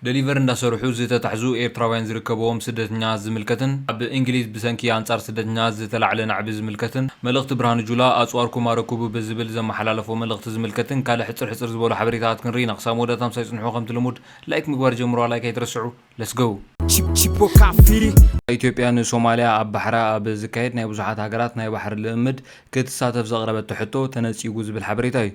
ደሊቨር እንዳሰርሑ ዝተታሕዙ ኤርትራውያን ዝርከበዎም ስደተኛታት ዝምልከትን ኣብ እንግሊዝ ብሰንኪ ኣንጻር ስደተኛታት ዝተላዕለ ናዕቢ ዝምልከትን መልእኽቲ ብርሃኑ ጁላ ኣጽዋርኩም ኣረክቡ ብዝብል ዘመሓላለፎ መልእኽቲ ዝምልከትን ካልእ ሕጽር ሕጽር ዝበሉ ሓበሬታታት ክንርኢ ኢና ክሳብ መወዳእታ ምሳይ ጽንሑ ከምቲ ልሙድ ላይክ ምግባር ጀምርዋ ላይክ ኣይትረስዑ let's go። ኢትዮጵያ ንሶማልያ ኣብ ባሕራ ኣብ ዝካየድ ናይ ብዙሓት ሃገራት ናይ ባሕሪ ልእምምድ ክትሳተፍ ዘቕረበቶ ሕቶ ተነጺጉ ዝብል ሓበሬታ እዩ።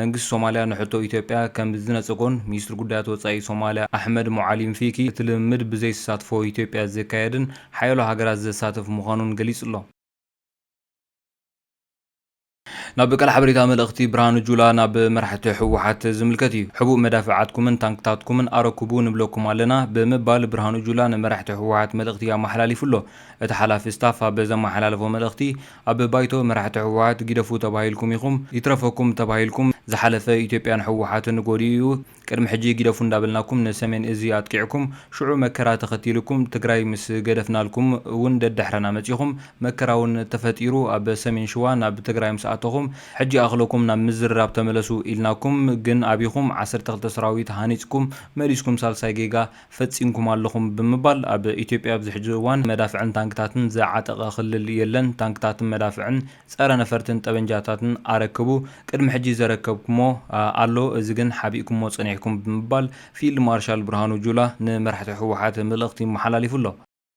መንግስቲ ሶማልያ ንሕቶ ኢትዮጵያ ከምዝነጸጎን ሚኒስትሪ ጉዳያት ወጻኢ ሶማልያ ኣሕመድ ሞዓሊም ፊኪ እቲ ልምምድ ብዘይተሳትፎ ኢትዮጵያ ዝካየድን ሓያሎ ሃገራት ዘሳትፍ ምዃኑን ገሊጹ'ሎ። ናብ ቃል ሓበሬታ መልእኽቲ ብርሃኑ ጁላ ናብ መራሕቲ ህወሓት ዝምልከት እዩ። ሕቡእ መዳፍዓትኩምን ታንክታትኩምን ኣረክቡ ንብለኩም ኣለና ብምባል ብርሃኑ ጁላ ንመራሕቲ ህወሓት መልእኽቲ ኣመሓላሊፉ'ሎ። እቲ ሓላፊ ስታፍ ኣብ ዘመሓላለፎ መልእኽቲ፣ ኣብ ባይቶ መራሕቲ ህወሓት ጊደፉ ተባሂልኩም ኢኹም ይትረፈኩም ተባሂልኩም ዝሓለፈ ኢትዮጵያን ህወሓትን ጎዲኡ እዩ ቅድሚ ሕጂ ጊደፉ እንዳበልናኩም ንሰሜን እዚ ኣጥቂዕኩም ሽዑ መከራ ተኸቲልኩም ትግራይ ምስ ገደፍናልኩም እውን ደድሕረና መጺኹም መከራ እውን ተፈጢሩ ኣብ ሰሜን ሽዋ ናብ ትግራይ ምስ ኣተኹም ሕጂ ኣኽለኩም ናብ ምዝርራብ ተመለሱ ኢልናኩም ግን ኣቢኹም ዓሰርተ ክልተ ሰራዊት ሃኒጽኩም መሊስኩም ሳልሳይ ጌጋ ፈጺምኩም ኣለኹም ብምባል፣ ኣብ ኢትዮጵያ ኣብዚ ሕጂ እዋን መዳፍዕን ታንክታትን ዝዓጠቐ ክልል የለን፣ ታንክታትን መዳፍዕን ጸረ ነፈርትን ጠበንጃታትን ኣረክቡ፣ ቅድሚ ሕጂ ዘረከብኩሞ ኣሎ፣ እዚ ግን ሓቢእኩሞ ጸኒሕኩም ብምባል ፊልድ ማርሻል ብርሃኑ ጁላ ንመራሕቲ ህወሓት መልእኽቲ መሓላሊፉ ኣሎ።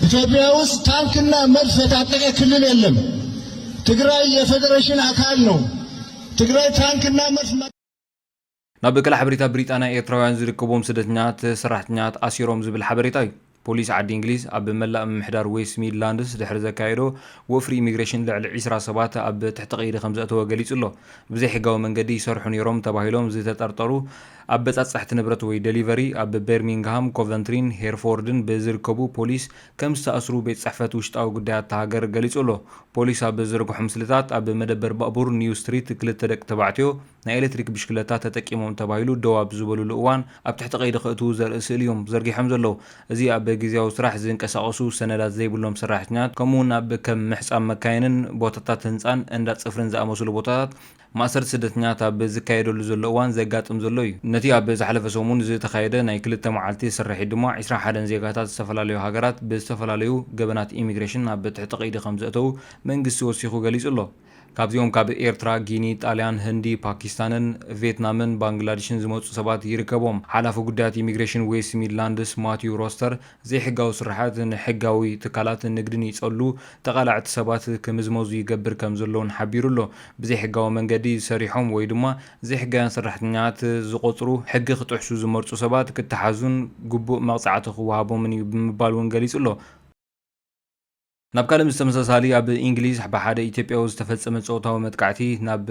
ኢትዮጵያ ውስጥ ታንክና መድፍ የታጠቀ ክልል የለም። ትግራይ የፌዴሬሽን አካል ነው። ትግራይ ታንክና መድፍ ናብ በቀል ሓበሬታ ብሪጣንያ ኤርትራውያን ዝርከቦም ስደተኛት ሰራሕተኛት ኣሲሮም ዝብል ሓበሬታ እዩ። ፖሊስ ዓዲ እንግሊዝ ኣብ መላእ ምምሕዳር ዌስት ሚድላንድስ ድሕሪ ዘካየዶ ወፍሪ ኢሚግሬሽን ልዕሊ 20 ሰባት ኣብ ትሕቲ ቀይዲ ከም ዘእተወ ገሊጹ ኣሎ። ብዘይሕጋዊ መንገዲ ይሰርሑ ነይሮም ተባሂሎም ዝተጠርጠሩ ኣብ በጻጽሕቲ ንብረት ወይ ደሊቨሪ ኣብ በርሚንግሃም፣ ኮቨንትሪን ሄርፎርድን ብዝርከቡ ፖሊስ ከም ዝተኣስሩ ቤት ጽሕፈት ውሽጣዊ ጉዳያት እታ ሃገር ገሊጹ ኣሎ። ፖሊስ ኣብ ዝዘርግሖ ምስልታት ኣብ መደበር ባቡር ኒው ስትሪት ክልተ ደቂ ተባዕትዮ ናይ ኤሌክትሪክ ብሽክለታ ተጠቂሞም ተባሂሉ ደው ኣብ ዝበሉሉ እዋን ኣብ ትሕቲ ቀይዲ ከእትዉ ዘርኢ ስእሊ እዮም ዘርጊሖም ዘለዉ። እዚ ኣብ ግዝያዊ ስራሕ ዝንቀሳቐሱ ሰነዳት ዘይብሎም ሰራሕተኛታት ከምኡ'ውን ኣብ ከም ምሕጻብ መካይንን ቦታታት ህንጻን እንዳ ጽፍሪን ዝኣመሰሉ ቦታታት ማእሰርቲ ስደተኛታት ኣብ ዝካየደሉ ዘሎ እዋን ዘጋጥም ዘሎ እዩ። ነቲ ኣብ ዝሓለፈ ሰሙን ዝተኻየደ ናይ ክልተ መዓልቲ ስርሒት ድማ ዕስራ ሓደን ዜጋታት ዝተፈላለዩ ሃገራት ብዝተፈላለዩ ገበናት ኢሚግሬሽን ኣብ ትሕቲ ቀይዲ ከምዘእተዉ መንግስቲ ወሲኹ ገሊጹ ኣሎ። ካብዚኦም ካብ ኤርትራ፣ ጊኒ፣ ጣልያን፣ ህንዲ፣ ፓኪስታንን ቬትናምን ባንግላድሽን ዝመጹ ሰባት ይርከብዎም። ሓላፊ ጉዳያት ኢሚግሬሽን ዌስት ሚድላንድስ ማቲው ሮስተር ዘይሕጋዊ ስርሓት ንሕጋዊ ትካላት ንግድን ይጸሉ፣ ተቓላዕቲ ሰባት ክምዝመዙ ይገብር ከምዘሎ'ውን ሓቢሩ ኣሎ። ብዘይሕጋዊ መንገዲ ሰሪሖም ወይ ድማ ዘይሕጋውያን ሰራሕተኛታት ዝቖጽሩ፣ ሕጊ ክጥሕሱ ዝመርጹ ሰባት ክተሓዙን ግቡእ መቕጻዕቲ ክወሃቦምን'ዩ ብምባል'ውን ገሊጹ'ሎ። ናብ ካልእ ምስ ተመሳሳሊ ኣብ ኢንግሊዝ ብሓደ ኢትዮጵያዊ ዝተፈጸመ ጾታዊ መጥቃዕቲ ናብ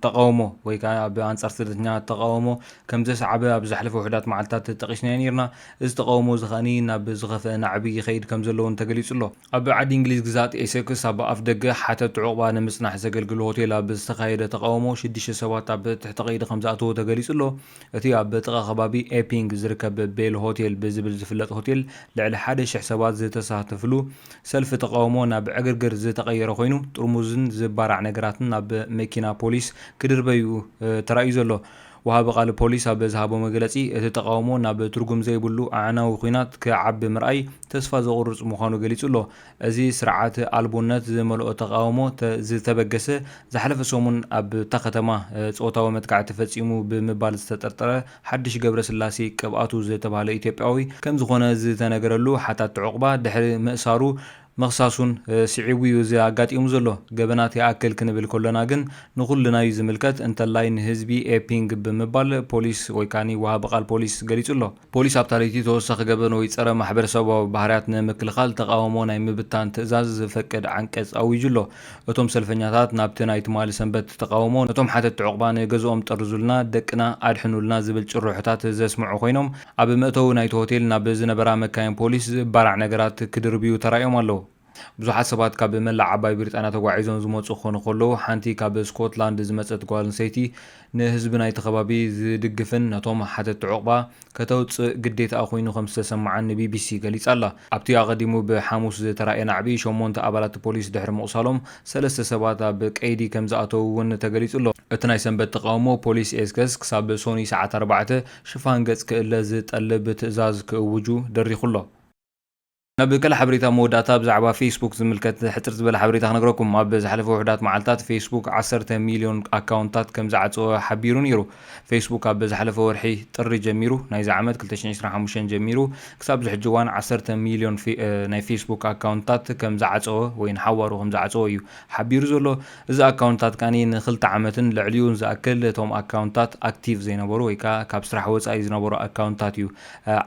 ተቓውሞ ወይ ከኣ ኣብ ኣንጻር ስደተኛ ተቓውሞ ከም ዘስዓበ ኣብ ዘሕለፈ ውሕዳት መዓልትታት ጠቒስናዮ ነይርና። እዚ ተቓውሞ እዚ ከኣ ናብ ዝኸፍአ ናዕቢ ይኸይድ ከም ዘሎ እውን ተገሊጹ ኣሎ። ኣብ ዓዲ ኢንግሊዝ ግዝኣት ኤሰክስ ኣብ ኣፍደገ ሓተቲ ዑቕባ ንምጽናሕ ዘገልግል ሆቴል ኣብ ዝተኻየደ ተቓውሞ ሽዱሽተ ሰባት ኣብ ትሕቲ ቀይዲ ከም ዝኣተዉ ተገሊጹ ኣሎ። እቲ ኣብ ጥቓ ከባቢ ኤፒንግ ዝርከብ ቤል ሆቴል ብዝብል ዝፍለጥ ሆቴል ልዕሊ ሓደ ሽሕ ሰባት ዝተሳተፍሉ ሰልፊ ተቓውሞ ናብ ዕግርግር ዝተቐየረ ኮይኑ ጥርሙዝን ዝባራዕ ነገራትን ናብ መኪና ፖሊስ ክድርበይ'ዩ ተራእዩ ዘሎ። ወሃቢ ቃል ፖሊስ ኣብ ዝሃቦ መግለጺ እቲ ተቓውሞ ናብ ትርጉም ዘይብሉ ኣዕናዊ ኲናት ክዓቢ ምርኣይ ተስፋ ዘቑርጽ ምዃኑ ገሊጹ'ሎ። እዚ ስርዓት ኣልቦነት ዝመልኦ ተቓውሞ ዝተበገሰ፣ ዝሓለፈ ሰሙን ኣብታ ከተማ ጾታዊ መጥቃዕቲ ፈጺሙ ብምባል ዝተጠርጠረ ሓድሽ ገብረስላሴ ቅብኣቱ ዝተባህለ ኢትዮጵያዊ ከምዝኾነ ዝተነገረሉ ሓታቲ ዑቕባ ድሕሪ ምእሳሩ ምኽሳሱን ስዒቡ'ዩ እዚ ኣጋጢሙ ዘሎ። ገበናት ይኣክል ክንብል ከሎና ግን ንኹልና'ዩ ዝምልከት፣ እንተላይ ንህዝቢ ኤፒንግ ብምባል ፖሊስ ወይ ከኣ ወሃቢ ቃል ፖሊስ ገሊጹ'ሎ። ፖሊስ ኣብታ ለይቲ ተወሳኺ ገበን ወይ ጸረ ማሕበረሰባዊ ባህርያት ንምክልኻል ተቓውሞ ናይ ምብታን ትእዛዝ ዘፈቅድ ዓንቀጽ ኣዊጁ ኣሎ። እቶም ሰልፈኛታት ናብቲ ናይ ትማሊ ሰንበት ተቓውሞ ነቶም ሓተትቲ ዑቕባ ንገዝኦም ጠርዙልና፣ ደቅና ኣድሕኑልና ዝብል ጭርሖታት ዘስምዑ ኮይኖም ኣብ መእተዊ ናይቲ ሆቴል ናብ ዝነበራ መካይን ፖሊስ ዝእባራዕ ነገራት ክድርብዩ ተራእዮም ኣለዉ። ብዙሓት ሰባት ካብ መላእ ዓባይ ብሪጣንያ ተጓዒዞም ዝመጹ ክኾኑ ከለዉ፣ ሓንቲ ካብ ስኮትላንድ ዝመጸት ጓል ኣንስተይቲ ንህዝቢ ናይቲ ከባቢ ዝድግፍን ነቶም ሓተትቲ ዑቕባ ከተውጽእ ግዴታኣ ኮይኑ ከም ዝተሰምዓን ንቢቢሲ ገሊጻ ኣላ። ኣብቲ ኣቐዲሙ ብሓሙስ ዝተራእየ ናዕቢ፣ ሸሞንተ ኣባላት ፖሊስ ድሕሪ ምቝሳሎም፣ ሰለስተ ሰባት ኣብ ቀይዲ ከም ዝኣተዉ እውን ተገሊጹ ኣሎ። እቲ ናይ ሰንበት ተቓውሞ፣ ፖሊስ ኤስከስ ክሳብ ሶኑይ ሰዓት ኣርባዕተ ሽፋን ገጽ ክእለ ዝጠልብ ትእዛዝ ክእውጁ ደሪኹ ኣሎ። ናብ ካልእ ሓበሬታ መወዳእታ ብዛዕባ ፌስቡክ ዝምልከት ሕጽር ዝበለ ሓበሬታ ክነግረኩም። ኣብ ዝሓለፈ ውሑዳት መዓልታት ፌስቡክ ዓሰርተ ሚልዮን ኣካውንትታት ከም ዝዓጸወ ሓቢሩ ነይሩ። ፌስቡክ ካብ ዝሓለፈ ወርሒ ጥሪ ጀሚሩ፣ ናይዚ ዓመት ክልተ ሽሕን ዕስራን ሓሙሽተን ጀሚሩ ክሳብ እዚ ሕጂ እዋን ዓሰርተ ሚልዮን ናይ ፌስቡክ ኣካውንትታት ከም ዝዓጸወ ወይ ንሓዋሩ ከም ዝዓጸወ እዩ ሓቢሩ ዘሎ። እዚ ኣካውንትታት ከኣ ንክልተ ዓመትን ልዕሊኡን ዝኣክል እቶም ኣካውንትታት ኣክቲቭ ዘይነበሩ ወይ ከኣ ካብ ስራሕ ወጻኢ ዝነበሩ ኣካውንትታት እዩ።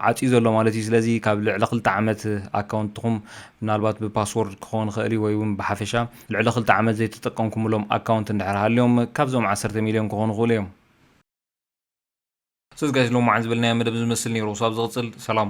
ዓጽዩ ዘሎ ማለት እዩ ስለዚ ካብ ልዕሊ ክልተ ዓመት ኣካውንትኹም ምናልባት ብፓስዎርድ ክኸውን ይኽእል እዩ ወይ ውን ብሓፈሻ ልዕሊ ክልተ ዓመት ዘይተጠቀምኩምሎም ኣካውንት እንድሕር ሃልዮም ካብዞም ዓሰርተ ሚልዮን ክኾኑ ይኽእሉ እዮም። ሰዚ ጋይስ ሎማዓንቲ ዝበልናዮ መደብ እዚ ዝመስል ኔሩ ክሳብ ዝቅጽል ሰላም።